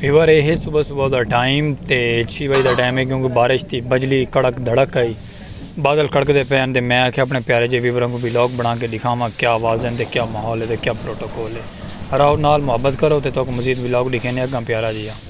Viewer اے ہے صبح صبح دا ٹائم تے چھی بجے دا ٹائم ہے کیونکہ بارش تھی بجلی کڑک دھڑک آئی بادل کڑک دے پے تے میں آکھیا اپنے پیارے جے ویوراں کو بھی لاگ بنا کے دکھاواں کیا آواز ہیں تے کیا ماحول ہے تے کیا پروٹوکول ہے راؤ نال محبت کرو تے تو کو مزید بھی لاگ دکھینے اگاں پیارا جی ہاں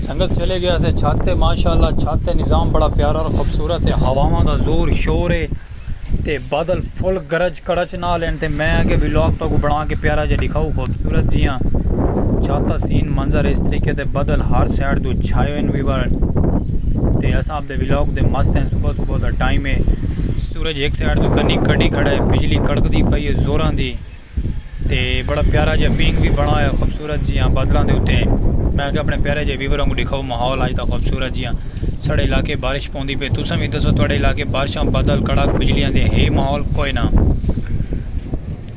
سنگت چلے گیا سے چھت تے ماشاءاللہ چھت تے نظام بڑا پیارا اور خوبصورت ہے ہواواں دا زور شور ہے تے بادل فل گرج کڑچ نال ہیں تے میں اگے ولاگ تو کو بنا کے پیارا جے دکھاؤ خوبصورت جیاں چھت دا سین منظر اس طریقے تے بادل ہر سائیڈ تو چھائے ہوئے وی بارن تے اساں اپ دے ولاگ دے مست ہیں صبح صبح دا ٹائم ہے سورج ایک سائیڈ تو کنی کڈی کھڑا ہے بجلی کڑک دی پئی ہے زوراں دی تے بڑا پیارا جیہا پینگ وی بنڑا ہویا خوبصورت جیہاں بادلاں دے اتے میں آکھیا اپنے پیارے جیہے ویور آنگوں ڈکھاؤ ماحول آج دا خوبصورت جیہاں ساڑے علاقے بارش پوندی پے تساں وی دسو تہاڈے علاقے بارشاں بادل کڑاک بجلیاں دے ہے ماحول کوئے نہ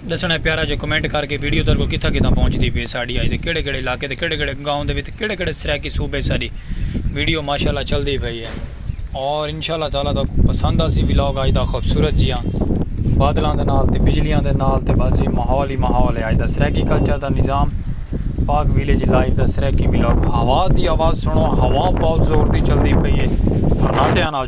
ڈسنڑا ہے پیارا جو کمنٹ کر کے ویڈیو تہاڈے کول کتھاں کتھاں پہنچ دی پے ساڈی آج دے کیڑے کیڑے علاقے تے کیڑے کیڑے گاؤں دے وچ کیڑے کیڑے سرائیکی صوبے ساڈی ویڈیو ماشاءاللہ چل دی پئی ہے۔ اور انشاء اللہ تعالی تاکوں پسند آسی ولاگ آج دا خوبصورت جیاں بادلاں دے نال تے بجلیاں دے نال تے بس جی ماحول ہی ماحول ہے آج دا سریکی کلچر دا نظام پاک ویلیج لائف دا سریکی ولاگ ہوا دی آواز سنو ہوا بہت زور دی چل دی پئی ہے فرناٹیاں نال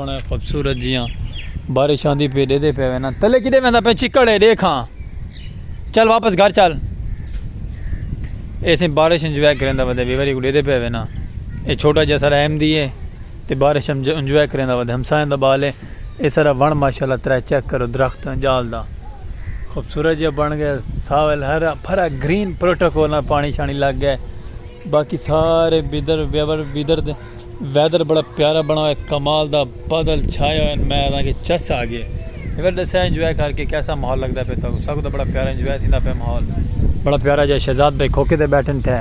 سوہنڑے خوبصورت جیاں بارش آندی پی ڈیدے پے وینا تلے کدے ویندا پے چکڑ ہے دیکھ ہاں چل واپس گھر چل ایسے بارش انجوائے کریندا ودے بے واری کو ڈیدے پے وینا اے چھوٹا جیسا رحم دی ہے تے بارش انجوائے کریندا ودے ہمسائیں دا بال ہے اے سارا ون ماشاءاللہ ترا چیک کرو درخت جال دا خوبصورت جیا بن گئے ساول ہر پھرا گرین پروٹوکول پانی شانی لگ گئے باقی سارے بیدر بیور بیدر دے ویدر بڑا پیارا بنا ہوئے کمال دا بادل چھائے ہوئے میں آدھا کہ چس آ گئے ایک بار دسیا انجوائے کر کے کیسا ماحول لگتا پہ تاکو ساکو تو بڑا پیارا انجوائے تھیندا پہ ماحول بڑا پیارا جا شہزاد بھائی کھوکے تے بیٹھن تھے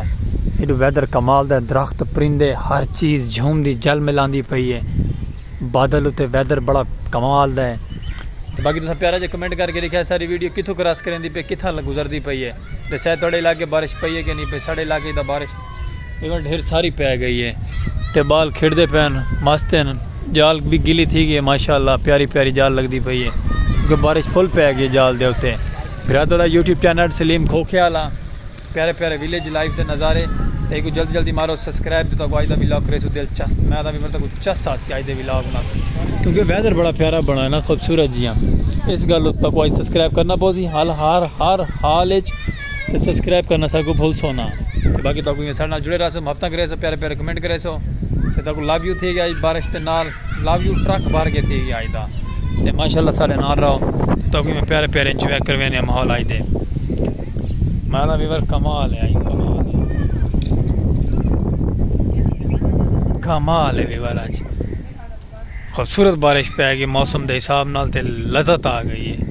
ایڈو ویدر کمال دا درخت پرندے ہر چیز جھوم دی جل ملاندی پئی ہے بادل تے ویدر بڑا کمال دا ہے تو باقی تسا پیارا جا کمنٹ کر کے لکھیا ساری ویڈیو کتھوں کراس کریں دی پہ کتھا گزر دی پئی ہے دسیا تھوڑے علاقے بارش پئی ہے کہ نہیں پئی ساڑے علاقے دا بارش ایون ڈھیر ساری پے گئی ہے تے بال کھڑدے پین مست ہیں جال بھی گلی تھی گئی ہے ماشاءاللہ پیاری پیاری جال لگدی پئی ہے کیونکہ بارش فل پے گئی ہے جال دے اتے بھراتو دا یوٹیوب چینل سلیم کھوکھے والا پیارے پیارے ویلیج لائف دے نظارے تے ایکو جلدی جلدی مارو سبسکرائب دیتا کو آج دا ویلاگ کریسو دلچسپ میں دا بھی مرتا کو چس آسی آج دے ویلاگ نا کیونکہ ویدر بڑا پیارا بنا ہے نا خوبصورت جیاں اس گل تک کو آج سبسکرائب کرنا پوزی حال ہار ہار حال اچ تے سبسکرائب کرنا ساکوں بھلسو نا تے باقی تاکوں یہ سارے نال جڑے رہسو محبتاں کریسو پیارے پیارے کمنٹ کریسو تے تاکوں لو یو تھی گیا اج بارش تے نال لو یو ٹرک بھر کے تھی گیا اج دا تے ماشاءاللہ سارے نال رہو تاکوں میں پیارے پیارے انجوائے کروینے ماحول اج دے میں دا ویور کمال ہے کمال ہے ویور اج خوبصورت بارش پہ گئی موسم دے حساب نال تے لذت آ گئی ہے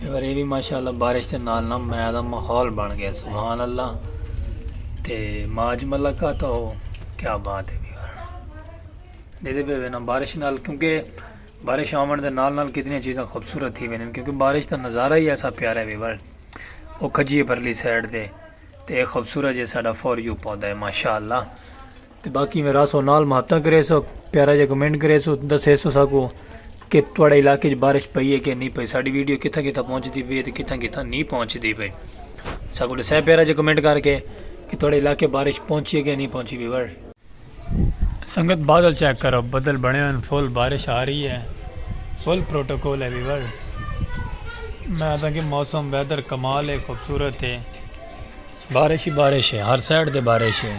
اے واری وی ماشاءاللہ بارش دے نال نہ میہ دا ماحول بن گیا سبحان اللہ تے ماج ملا کا تو کیا بات ہے دیدے پہ وینا بارش نال کیونکہ بارش آمن دے نال نال کتنی چیزیں خوبصورت تھی وینا کیونکہ بارش دا نظارہ ہی ایسا پیارا ہے ویوال او کھجی پرلی سائڈ دے تے خوبصورت جیسا ڈا فور یو پودا ہے ماشاءاللہ تے باقی میں راسو نال محبتاں کریسو پیارا جا کمنٹ کریسو دسیسو ساکو کہ تواڈے علاقے وچ بارش پئی ہے کہ نہیں پئی ساڈی ویڈیو کتھاں کتھاں پہنچ دی پئی ہے تے کتھاں کتھاں نہیں پہنچ دی پئی ساکو دسے پیارا جا کمنٹ کر کے کہ تواڈے علاقے بارش پہنچی ہے کہ نہیں پہنچی ویور سنگت بادل چیک کرو بدل بنے ہوئے فل بارش آ رہی ہے فل پروٹوکول ہے ویور میں آتا کہ موسم ویدر کمال ہے خوبصورت ہے بارش ہی بارش ہے ہر سائڈ تے بارش ہے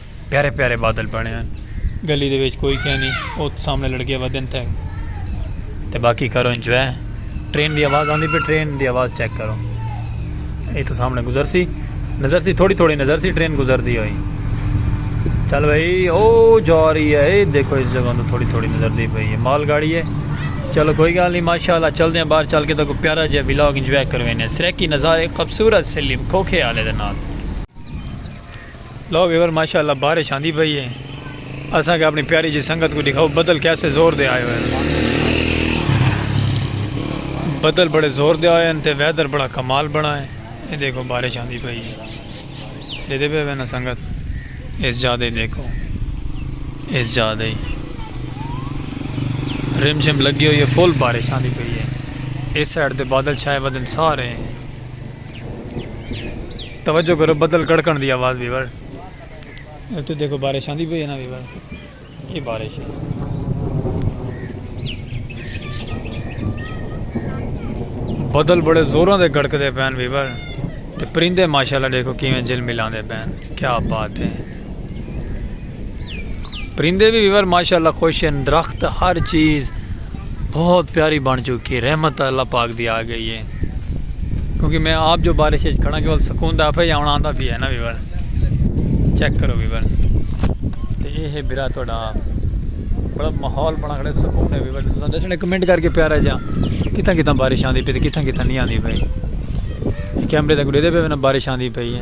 پیارے پیارے بادل بنے ہیں گلی دے وچ کوئی کہنی او سامنے لڑکے ودن تھے تے باقی کرو انجوائے ٹرین دی آواز آندی پہ ٹرین دی آواز چیک کرو اے تو سامنے گزر سی نظر سی تھوڑی تھوڑی نظر سی ٹرین گزر دی ہوئی چل بھائی او جا رہی ہے اے دیکھو اس جگہ تو تھوڑی تھوڑی نظر دی پہ مال گاڑی ہے چلو کوئی گال نہیں ماشاء اللہ چل دیں باہر چل کے تو کوئی پیارا جہاں بلاگ انجوائے کروینے سریکی نظارے خوبصورت سلیم کھوکھے آلے دے نال لو ویور ماشاءاللہ بارش آندی پئی ہے اساں کے اپنی پیاری جی سنگت کو دکھاؤ بدل کیسے زور دے آئے ہوئے بدل بڑے زور دے آئے ہیں تے ویدر بڑا کمال بنا ہے یہ دیکھو بارش آندی پئی ہے دے دے پہ وینا سنگت اس جا دے دیکھو اس جا دے رم شم لگی ہوئی ہے فل بارش آندی پئی ہے اس سائڈ دے بادل چھائے ودن سارے ہیں توجہ کرو بدل کڑکن دی آواز ویور اتو دیکھو بارش آندی پئی ہے نا ویور یہ بارش ہے بدل بڑے زوراں دے گڑک دے پین ویور تے پرندے ماشاءاللہ دیکھو کیویں جل ملاندے پین کیا بات ہے پرندے وی ویور ماشاءاللہ خوش ہیں درخت ہر چیز بہت پیاری بن چکی ہے رحمت اللہ پاک دی آ گئی ہے کیونکہ میں آپ جو بارش ہے کھڑا کہ سکون دا پھے آنا آندا پھے ہے نا ویور چیک کرو ویور تے اے ہے برا توڑا بڑا ماحول بنا کھڑے سکون ہے ویور تساں دسنے کمنٹ کر کے پیارا جا کتھاں کتھاں بارش آندی پئی تے کتھاں کتھاں نہیں آندی پئی کیمرے تے کوئی دے دے پے نا بارش آندی پئی ہے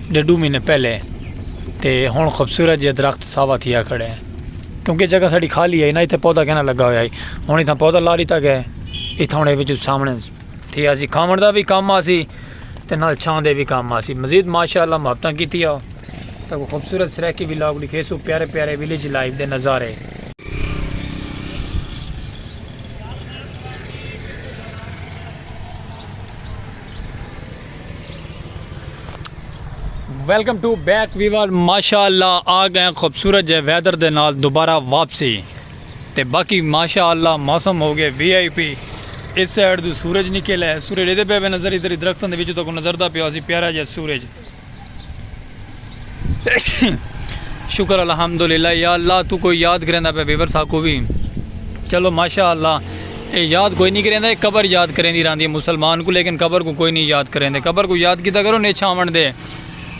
ڈیڈو مہینے پہلے تے ہن خوبصورت جیہا درخت ساوا تھیا کھڑے ہیں کیونکہ جگہ ساڑی خالی ہے نہ اتھے پودا کہنا لگا ہویا ہے ہن اتھا پودا لا لیتا گیا ہے اتھا ہن ایویں جو سامنے تھی اسی کھاون دا بھی کام آسی تے نال چھاں دے بھی کام آسی مزید ماشاءاللہ محبتہ کیتی ہے تے خوبصورت سرائیکی بھی لاگ لکھے سو پیارے پیارے ویلیج لائف دے نظارے ویلکم ٹو بیک ویور ماشاء اللہ آ گئے خوبصورت جے ویدر دے نال دوبارہ واپسی تے باقی ماشاء اللہ موسم ہو گئے وی آئی پی اس سائڈ دو سورج نکل ہے سورج ادھر پہ نظر ادھر درختوں دے وچ تو نظر دا پیا سی پیارا جے سورج شکر الحمدللہ یا اللہ تو کوئی یاد کریندا پہ ویور ساکو بھی چلو ماشاءاللہ اے یاد کوئی نہیں کریندا اے قبر یاد کریندی راندی ہے مسلمان کو لیکن قبر کو کوئی نہیں یاد کریندے قبر کو یاد کیتا کرو نیچ آون دے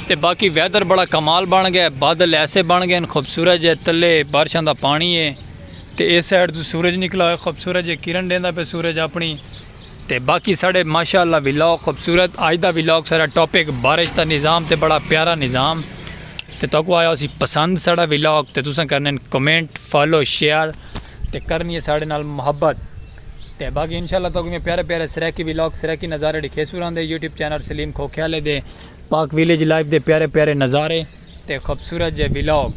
تے باقی ویدر بڑا کمال بن گئے بادل ایسے بن گئے خوبصورت جے تلے بارشاں دا پانی ہے تے اے سائیڈ تو سورج نکلا ہوئے خوبصورت جے کرن دیندا پہ سورج اپنی تے باقی ساڑے ماشاء اللہ ولاگ خوبصورت اج دا ولاگ ساڑا ٹاپک بارش دا نظام تے بڑا پیارا نظام تے تاکو آیا اسی پسند ساڑا ولاگ تے تساں کرنے کمنٹ فالو شیئر تے کرنی ہے ساڑے نال محبت تے باقی انشاءاللہ تاکہ میں پیارے پیارے سریکی ویلاگ سریکی نظارے ڈکھے سوران دے یوٹیوب چینل سلیم کھوکھیالے دے پاک ویلیج لائف دے پیارے پیارے نظارے تے خوبصورت جے ویلاگ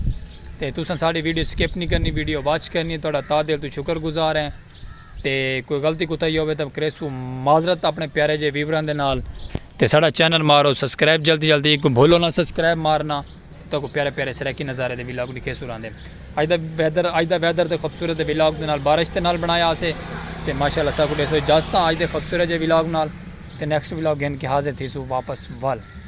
تے تساں ساڑی ویڈیو سکپ نہیں کرنی ویڈیو واچ کرنی ہے توڑا تا دل تو شکر گزار ہیں تے کوئی غلطی کوتاہی ہووے تاں کریسوں معذرت اپنے پیارے جے ویوراں دے نال۔ تے ساڈا چینل مارو سبسکرائب جلدی جلدی کوں بھولو نہ سبسکرائب مارنا تاکوں پیارے پیارے سرائیکی نظارے دے ولاگ ڈکھیسوں راندے اج دا ویدر اج دا ویدر تے خوبصورت دے ولاگ دے نال بارش دے نال بنایا اسے تے ماشاءاللہ ساکوں ڈیسو اجازتاں اج دے خوبصورت جے ولاگ نال تے نیکسٹ ولاگ گھن کے حاضر تھیسوں واپس ول۔